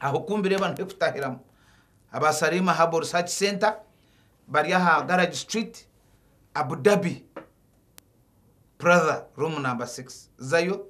aho kumbireba niho ekutahiramu aba Salima Herbal Research Center bari aha Garage Street Abu Dhabi. Prather room number six zayo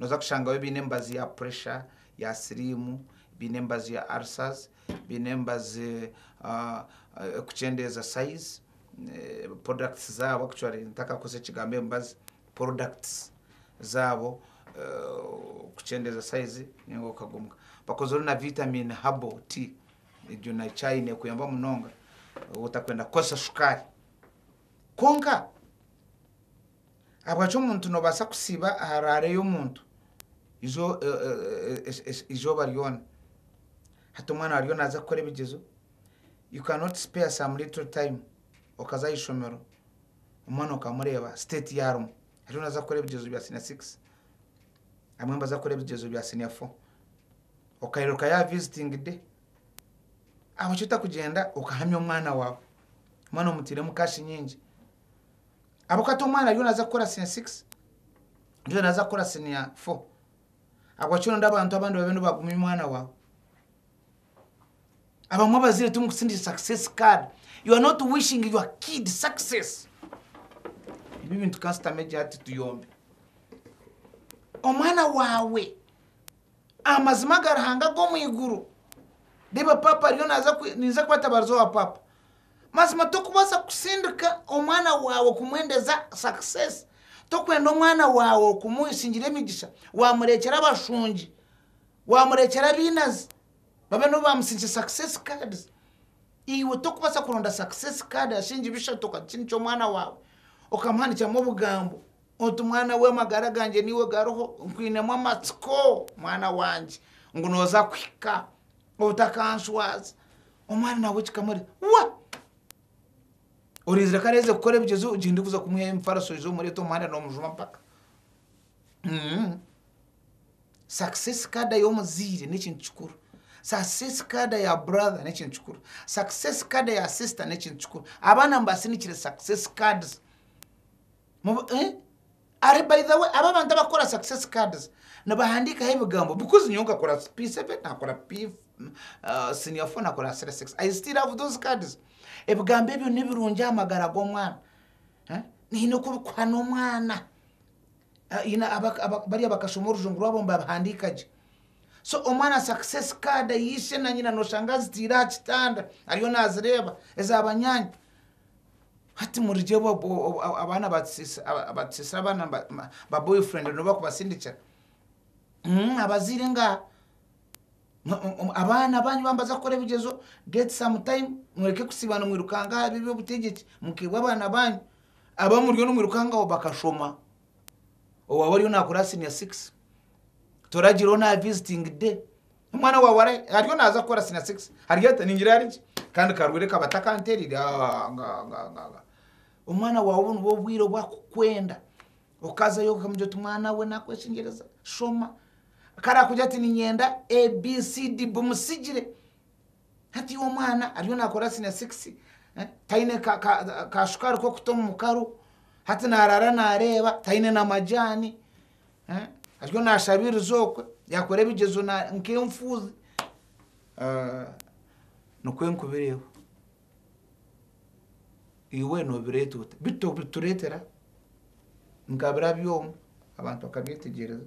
noza kushangayo baine emibazi ya pressure, ya siriimu, baine emibazi ya ulcers, baine emibazi erikukyendeeza size, products zaabo actually ntakakoze ekigambo emibazi, products zaabo kukyendeeza size ninga okagumuka. Bakozire na vitamin herbal tea egyo na chai nekuyamba munonga waaba otakwenda kukoresa shukaari. Kwonka, ahabwaki omuntu noobaasa kusiiba haraareyo omuntu eizooba ryona? Hati omwana waaba ariyo naaza kukora ebigyezo, you cannot spare some little time okaza aha ishomero omwana okamureeba state ei arimu. Ariyo naaza kukora ebigyezo bya siniya sigisi, abamwe nibaza kukora ebigyezo bya siniya fo. Okairukayo aha visiting day, ahabwaki otakugyenda okahamya omwana waawe? omwana omutiiremu kashi nyingi ahabw'okuba hati omwana ariyo naaza kukora siniya sigisi ndiyo naaza kukora siniya fo ahabw'okuba nooda abantu abandi babe nibagumya omwana waawe abamwe abazaire timukutsindikira sakisesi kaadi yu are noti wishingi yuwa kiidi sakisesi ebi ebintu kasita meekingi ati tuyombi omwana waawe amazima aga Ruhanga ag'omu iguru reeba paapa ariyo naaza ninza kubatabariza owa paapa Mazima tokubaasa kusindika omwana waawe kumwendeza success, tokwenda omwana waawe kumusingira emigisha wamureekyera abashungi, wamureekyera abainazi babe nibo bamusingisha success cards. Iwe tokubaasa kuronda success card ashingi bishatu okakisiindikira omwana waawe okamuhandikiramu obugambo oti mwana we amagara gangye niiwe gariho, nkwinemu amatsiko mwana wangye ngu nooza kuhika Otakaanshwaza. Omwana nawe kikamurya. Wa! Orinzire ku areeze kukora ebigyezo gye ndikuza kumuha emifariso oije omureete omu muhanda noomujuma mpaka. Success kaada y'omuzaire n'ekintu kikuru. Success kaada ya brother n'ekintu kikuru. Success kaada ya sister n'ekintu kikuru. Abaana mubasinikire success cards. Mu, eeh? Are by the way abo abantu abakukora success cards nibahandikaho ebigambo because nyowe nkakora P7 nakora senior 4 nakora senior 6 I still have those cards ebigambo ebyo nibirungi aha magara g'omwana haine oku bikuha n'omwana bari abakashoma orujungu rwabo nibabihandika gye so omwana success card ya ishe na nyina noshanga azitaire aha kitanda ariyo nazireeba eza banyaanya. Hati murigye obwo abaana abatusisira abaana ba boyfriend nibo bakubasindikira abazaire nga abaana banyu babaza kukora ebigyezo get some time mureke kusiiba nimwirukanga aha by'obutegyeki mukeihwe abaana banyu abu muriyo nimwirukangaho bakashoma owaawe ariyo nakora senior six toragira oriyo na visiting day. Omwana wa warai ariyo naza kukora sina 6 ariyo ata ningira arigye kandi karwire kaba takanterire ah, nga, nga, nga, nga. omwana wawe obu nibwo obwire obu akukwenda okazayo okamugira oti mwana we nakweshingyereza shoma kare akugira ati ninyenda abcd bumusigire hati iwe omwana ariyo nakora sina 6 eh, taine ka- ka- kashukaari k'okuta omu mukaru hati narara nareeba taine na majaani Ariyo naashabiriza okwe, yaakora ebigyezo nk'enfuuzi. Nikwo enkubireho. Iwe noobireeta ota? Bitu obitureetera nka bira byoma, abantu bakabyetegyereza.